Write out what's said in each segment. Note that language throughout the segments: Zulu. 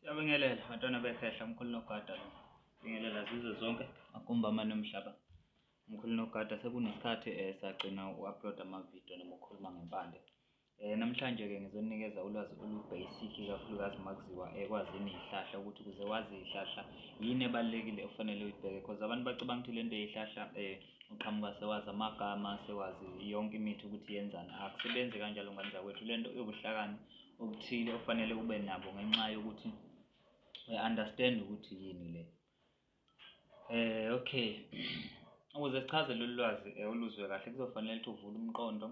Siyabingelela bantwana bekhehla mkhulu nogada lo. Bingelela zize zonke akumba amane omhlaba. Mkhulu nogada sekunesikhathi eh sagcina uupload ama video noma ukhuluma ngempande. Eh namhlanje ke ngizonikeza ulwazi olu basic kakhulukazi makuziwa ekwazini eh, ihlahla ukuthi kuze wazi ihlahla yini ebalekile ofanele uyibheke because abantu bacabanga ukuthi lento eyihlahla eh uqhamuka sewazi amagama sewazi yonke imithi ukuthi yenzani akusebenzi kanjalo ngane zakwethu lento iyobuhlakani okuthile ofanele ube nabo ngenxa yokuthi uya-understand ukuthi yini le eh okay ukuze sichaze lolu lwazi eh, oluzwe kahle kuzofanele ukuthi uvule umqondo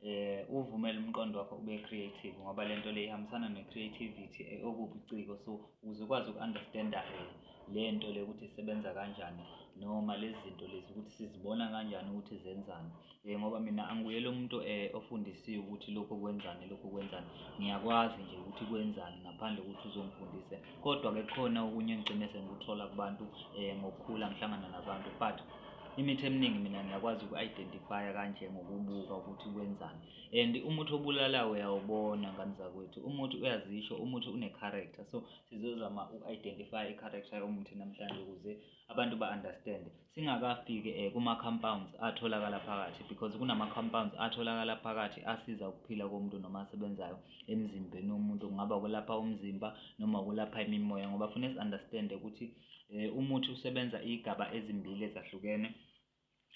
eh uvumele umqondo wakho ube creative ngoba lento le ihambisana ne creativity eh, okubuciko so ukuze ukwazi uku-understanda eh, le nto le ukuthi isebenza kanjani noma lezi zinto lezi ukuthi sizibona kanjani ukuthi zenzani Eh, ngoba mina angiyele umuntu eh, ofundisiwe ukuthi lokhu kwenzani lokhu kwenzani ngiyakwazi nje ukuthi kwenzani ngaphandle kokuthi uzongifundise kodwa-ke khona okunye engigcine sengikuthola kubantu um ngokukhula ngihlangana nabantu but imithi eminingi mina ngiyakwazi uku-identifya kanje ngokubuka ukuthi kwenzani and umuthi obulalayo uyawubona ngani zakwethu umuthi uyazisho umuthi une-character so sizozama uku-identifya i-character yomuthi namhlanje ukuze abantu ba understand singakafiki eh, kuma compounds atholakala phakathi because kunama compounds atholakala phakathi asiza ukuphila komuntu noma asebenzayo emzimbeni womuntu kungaba ukulapha umzimba noma ukulapha imimoya ngoba funa si understand ukuthi eh, umuthi usebenza igaba ezimbili ezahlukene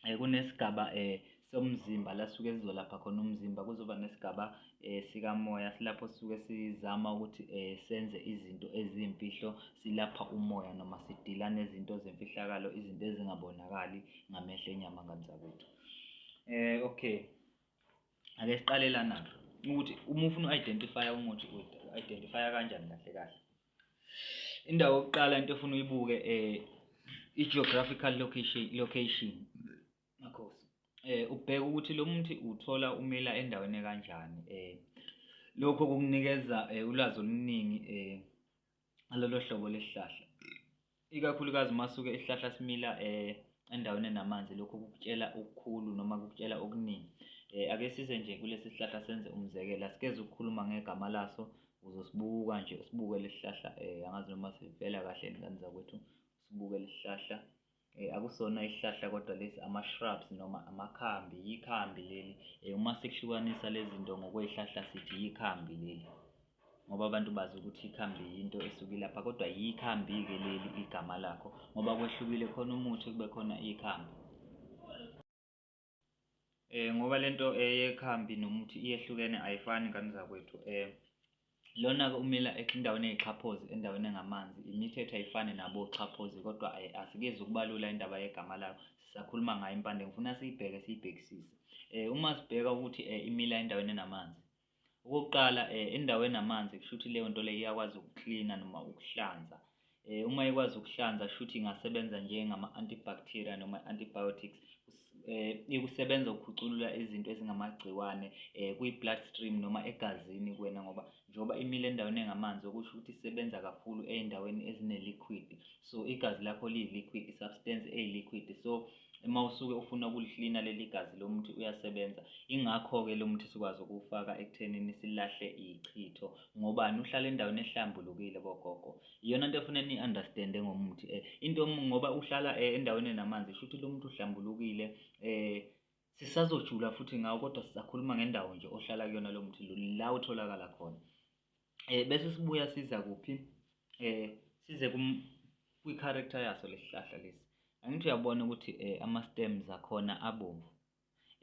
eh, kunesigaba eh somzimba la suke sizolapha khona umzimba kuzoba nesigaba eh sikamoya silapho suke sizama ukuthi eh senze izinto ezimfihlo silapha umoya noma sidila nezinto zemfihlakalo izinto ezingabonakali ngamehlo enyama ngamzakwethu eh okay ake siqalelana ukuthi uma ufuna u-identify umuthi u-identify kanjani kahle kahle Indawo yokuqala into efuna uyibuke eh i-geographical location location. Makhosi. Eh ubheka ukuthi lo muthi uthola umila endaweni kanjani eh lokho kukunikeza eh, ulwazi oluningi eh alolo hlobo lesihlahla. ikakhulukazi uma suke isihlahla simila um endaweni enamanzi lokho kukutshela okukhulu noma kukutshela okuningi um ake size nje kulesi sihlahla senze umzekelo asikeze ukukhuluma ngegama laso uzosibuka nje usibuke lesi sihlahla um angazi noma sivela kahle ngane zakwethu usibuke lesi sihlahla Eh, akusona isihlahla kodwa lesi ama-shrubs noma amakhambi yikhambi leli eh, uma sikuhlukanisa lezi zinto ngokwey'hlahla sithi yikhambi leli ngoba abantu bazi ukuthi ikhambi yinto esuke ilapha kodwa yikhambi-ke leli igama lakho ngoba kwehlukile khona umuthi kube khona ikhambi eh ngoba lento eyekhambi eh, nomuthi iyehlukene ayifani ngane zakwethu eh lona-ke umila endaweni eyixhaphozi endaweni engamanzi imithetho ayifani nabo xhaphozi kodwa eh, asikezi ukubalula indaba yegama layo sisakhuluma ngayo impande ngifuna siyibheke siyibhekisise um uma sibheka ukuthi um imila endaweni enamanzi Okokuqala um indawo enamanzi kusho ukuthi leyo nto leyo iyakwazi ukuklina noma ukuhlanza um uma ikwazi ukuhlanza kusho ukuthi ingasebenza njengama-antibacteria noma antibiotics um ikusebenza ukukhuculula izinto ezingamagciwane um kwi-blood stream noma egazini kuwena ngoba njengoba imile endaweni engamanzi okusho ukuthi isebenza kakhulu ey'ndaweni ezine-liquid so igazi lakho liyi-liquid i-substance eyi-liquid so uma usuke ufuna ukulihlina leli gazi lo muthi uyasebenza ingakho-ke lo muthi sikwazi ukuwufaka ekuthenini silahle ichitho ngobani uhlala endaweni ehlambulukile bogogo iyona nto efuna ni-understande ngomuthi um into ngoba uhlala um endaweni enamanzi sho ukuthi lo muthi uhlambulukile um sisazojula futhi ngawo kodwa sisakhuluma ngendawo nje ohlala kuyona lo muthi la utholakala khona eh bese sibuya siza kuphi eh size kwi-character yaso lesihlahla lesi angithi uyabona ukuthi eh ama-stems akhona abomvu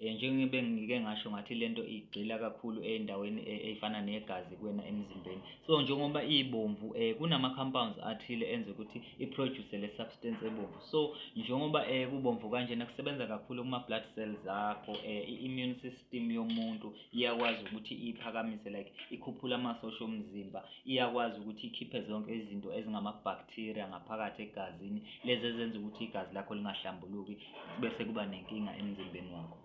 eh njengoba ngike ngasho ngathi lento igxila kakhulu endaweni eh, eyifana negazi kuwena emzimbeni so njengoba ibomvu eh kunama compounds athile enza ukuthi i produce le substance ebomvu so njengoba eh kubomvu kanjena kusebenza kakhulu kuma blood cells akho eh i immune system yomuntu iyakwazi ukuthi iphakamise like ikhuphule amasosha omzimba iyakwazi ukuthi ikhiphe zonke izinto ezingamabacteria ngaphakathi egazini lezi ezenza ukuthi igazi lakho lingahlambuluki bese kuba nenkinga emzimbeni wakho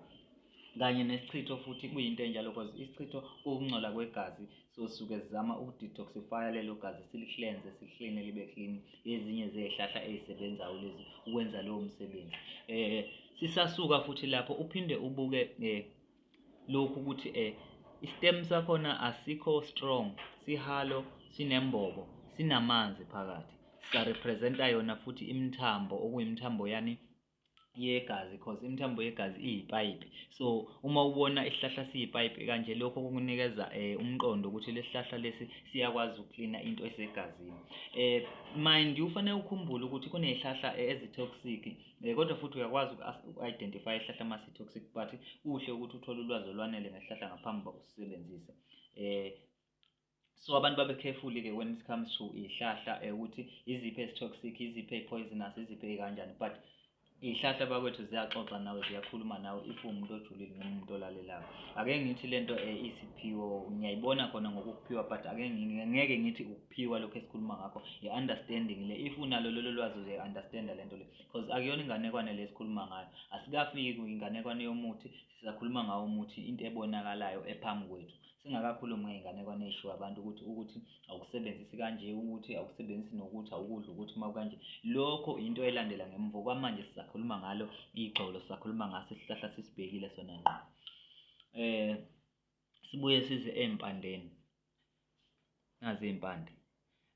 kanye nesichitho futhi kuyinto enjalo because isichitho ukungcola kwegazi so suke sizama ukudetoxifya lelo gazi silihlenze sihlene libe clean ezinye zezihlahla ezisebenzayo lezi ukwenza lowo msebenzi eh sisasuka futhi lapho uphinde ubuke eh lokhu ukuthi eh istem sakhona asikho strong sihalo sinembobo sinamanzi phakathi sisarepresenta yona futhi imithambo okuyimithambo yani yegazi cause imithambo yegazi iyipayipi so uma ubona isihlahla siyipayipi kanje lokho kukunikeza um umqondo ukuthi lesihlahla lesi siyakwazi ukuklina into esegazini um mind ufanele ukhumbule ukuthi kunezihlahla eh, ezitoxic Eh, kodwa futhi uyakwazi uku-identify isihlahla uma si-toxic but kuhle ukuthi uthole ulwazi olwanele ngesihlahla ngaphambi uba usisebenzise um so abantu babe careful-ke when it comes to iy'hlahla um ukuthi iziphi ezi-toxic iziphi ey-poisonous iziphi ey'kanjani but iy'hlahla bakwethu ziyaxoxa nawe ziyakhuluma nawe if uwumuntu ojulile noma umuntu olalelayo ake ngithi le nto um isiphiwo ngiyayibona khona ngokuphiwa but ake ngeke ngithi pure lokho esikhuluma ngakho i-understanding le if unalo lolo lwazi uzoyi-understanda le nto le because akuyona inganekwane le esikhuluma ngayo asikafiki kwinganekwane yomuthi sisakhuluma ngawo umuthi into ebonakalayo ephambi kwethu singakakhulumi ngey'nganekwane ey'shiwo abantu ukuthi ukuthi awukusebenzisi kanje ukuthi awukusebenzisi nokuthi awukudla ukuthi uma kanje lokho into elandela ngemvo kwamanje sisakhuluma ngalo igxolo sisakhuluma ngaso isihlahla sisibhekile sona ngqo um sibuye size ey'mpandeni nazi iy'mpande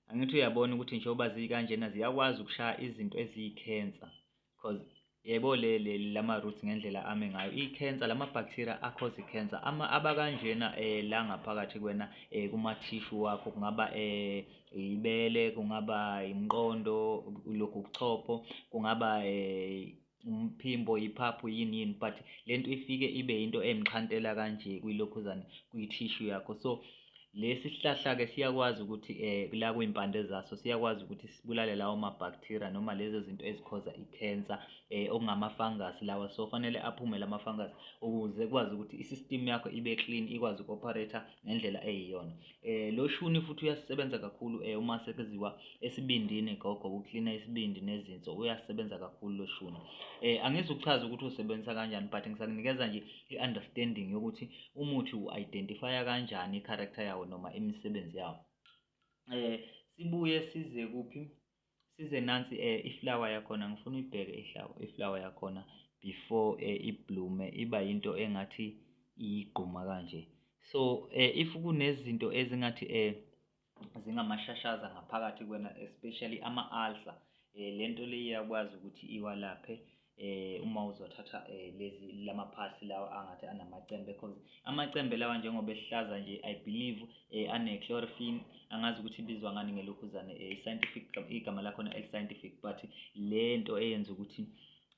angithi uyabona ukuthi njengoba zikanjena ziyakwazi ukushaya izinto eziyikhensa because yebo lama-roots ngendlela ame ngayo ikhensa lama-bacteria akhoza ikhensa abakanjena um eh, la ngaphakathi kwena um kumathishu wakho kungaba um ibele kungaba imqondo lokhu kuchopho kungaba um umphimbo iphaphu yini yini but le nto ifike ibe yinto emxhantela kanje kwilokhuzane kwi-tissue yakho so lesi sihlahla-ke siyakwazi ukuthi um la kwimpande zaso siyakwazi ukuthi sibulale lawo mabhakthiriya noma lezo zinto ezikhoza ikhensa um eh, okungamafangasi lawa so fanele aphume la mafangasi ukuze kwazi ukuthi i-system yakho ibe clean ikwazi uku-operator ngendlela eyiyona Eh lo shuni futhi uyasebenza kakhulu eh uma sekuziwa esibindini gogo uklina isibindi nezinso uyasebenza kakhulu lo shuni. Eh angizukuchaza ukuthi usebenza kanjani but ngisakunikeza nje i-understanding yokuthi umuthi u-identify kanjani i-character yawo noma imisebenzi yawo. Eh sibuye size kuphi? size nansi eh, iflower yakhona ngifuna uyibheke iflower yakhona before eh, iblume iba yinto engathi iyigquma kanje so eh, if kunezinto ezingathi eh, zingamashashaza ngaphakathi kwena especially ama-ulcer eh, lento le iyakwazi ukuthi iwalaphe eh uma uzothatha eh, lezi lamaphasi lawa angathi anamacembe because amacembe lawa njengoba ehlaza nje i believe eh, ane chlorophyll angazi ukuthi ibizwa ngani ngelokhuzane eh, scientific igama lakho na scientific but lento eyenza ukuthi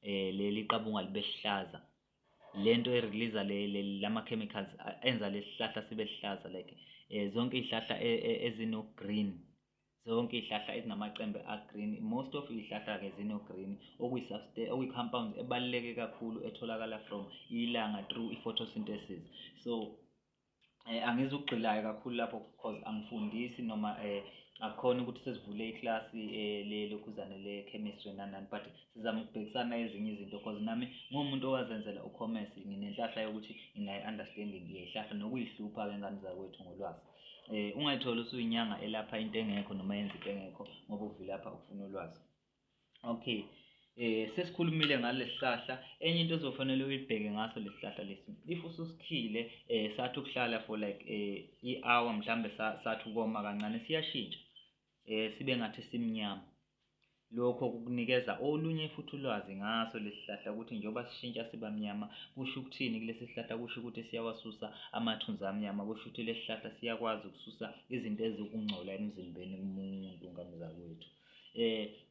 eh leli qabunga libe hlaza lento e release le lama chemicals enza lesihlahla sibe sihlaza like eh, zonke izihlahla e, e, ezino green zonke izihlahla ezinamacembe agreen most of izihlahla-ke zino-green okuyi-compounds ebaluleke kakhulu etholakala from ilanga through i-photosynthesis so eh, angizukugxilayo kakhulu lapho because angifundisi noma eh, akukhona ukuthi sesivule ikilasi eh, lelokhuzane le-chemistry nanani but sizama ukubhekisana ezinye izinto because nami nguwumuntu owazenzela ucommerce nginenhlahla yokuthi nginayi-understanding yehlahla nokuyihlupha-ke ngani zakwethu ngolwazi Eh ungayithola usuyinyanga elapha into engekho noma yenza into engekho ngoba uvilapha ukufuna ulwazi. Okay. Eh sesikhulumile ngalesihlahla enye into ezofanele uyibheke ngaso lesihlahla lesi. If ususikhile eh sathi ukuhlala for like eh i-hour mhlambe sathi ukoma kancane siyashintsha. eh, sibe ngathi simnyama. Lokho kukunikeza olunye futhi ulwazi ngaso lesihlahla ukuthi njengoba sishintsha siba mnyama kusho ukuthini kulesi sihlahla kusho ukuthi siyawasusa amathunzi amnyama kusho ukuthi lesi sihlahla siyakwazi ukususa izinto eziwukungcola emzimbeni kumuntu ngamzakwethu. Eh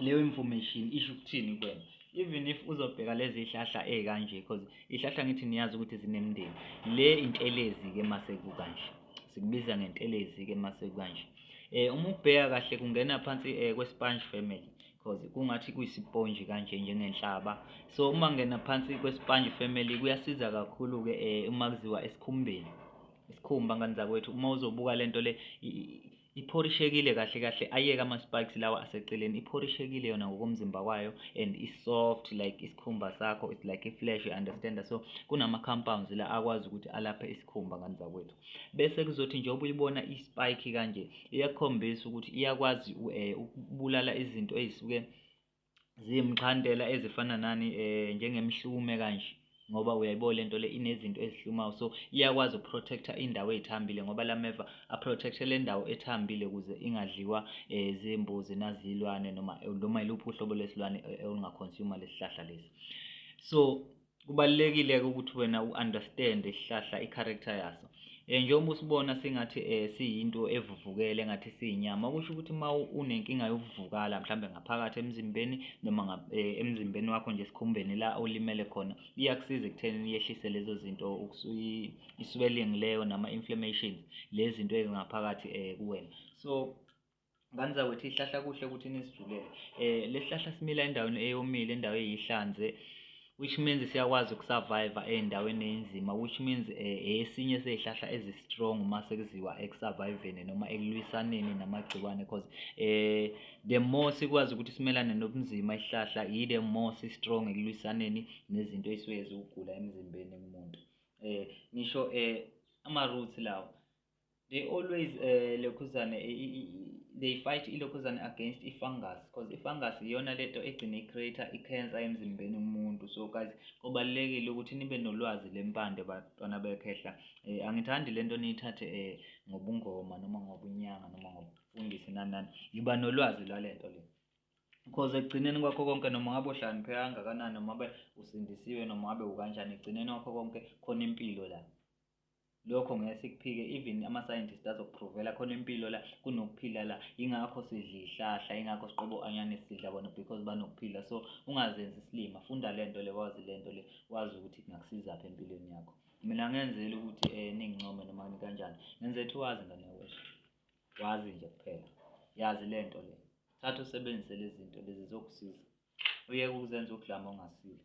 leyo information isho ukuthini kuwena even if uzobheka lezi hlahla ezikanje because ihlahla ngithi niyazi ukuthi zinemndeni le intelezi ke masekukanje sikubiza ngentelezi ke masekukanje eh uma ubheka kahle kungena phansi eh, kwesponge family because kungathi kuyisiponji kanje njengenhlaba so uma ngena phansi kwesponge family kuyasiza kakhulu ke eh, uma kuziwa esikhumbeni isikhumba ngani zakwethu uma uzobuka lento le Iphorishekile kahle kahle ayeke ama spikes lawa aseceleni iphorishekile yona ngokomzimba wayo and i soft like isikhumba sakho it's like a flesh you understand so kunama compounds la akwazi ukuthi alaphe isikhumba ngani zakwethu bese kuzothi njengoba uyibona i spike kanje iyakhombisa ukuthi iyakwazi eh, ukubulala izinto ezisuke ziyimxhantela ezifana nani um njengemihlume kanje ngoba uyayibo le nto le inezinto ezihlumayo so iyakwazi ukuprotecta indawo ey'thambile ngoba la meva aprotecte le ndawo ethambile ukuze ingadliwa um zimbuzi nazilwane noma noma iluphi uhlobo lwesilwane olungakhonsuyuma lesi hlahla lesi so kubalulekile-ke ukuthi wena u-understand isihlahla i-character yaso um njengoba usibona singathi um siyinto evuvukele engathi siyinyama okusho ukuthi uma unenkinga yokuvukala mhlawumbe ngaphakathi emzimbeni noma eh, emzimbeni wakho nje esikhumbeni la olimele khona iyakusiza ekuthenini yehlise lezo zinto iswelling leyo nama-inflammations lezi zinto ezingaphakathi um kuwena so Ngane zakwethu ihlahla kuhle ukuthi nisijulele. Eh lesihlahla simila endaweni eyomile, endawo eyihlanze which means siyakwazi ukusurvive endaweni enzima which means eh, esinye sezihlahla ezi strong uma sekuziwa ekusurviveni noma ekulwisaneni namagciwane because eh the more sikwazi ukuthi simelane nobunzima isihlahla yi the more si strong ekulwisaneni nezinto esuke zikugula emzimbeni kumuntu eh ngisho eh ama roots lawo they always uh, lokhuzane they fight ilokhuzane against i-fungus because i-fungus iyona lento egcine i-creator i-cancer emzimbeni umuntu so guys kubalulekile ukuthi nibe nolwazi lempande bantwana bekhehla um angithandi le nto niyithathe um ngobungoma noma ngobunyanga noma ngobufundisi nanani yiba nolwazi lwale nto le because ekugcineni kwakho konke noma ngabe uhlanipheka kangakanani noma ngabe usindisiwe noma ngabe ukanjani ekugcineni kwakho konke khona impilo la lokho ngeke sikuphike even ama scientist azokuphrovela khona impilo la kunokuphila la ingakho sidla ihlahla ingakho siqobo anyane sidla bona because banokuphila so ungazenzi isilima funda lento le wazi lento le wazi ukuthi kungakusiza phi empilweni yakho mina ngenzela ukuthi eh ningincome noma ni kanjani ngenze ethi wazi ngane wesho wazi nje kuphela yazi lento le thatha usebenzise lezi zinto lezi zokusiza uyeke ukuzenza ukudlama ongasile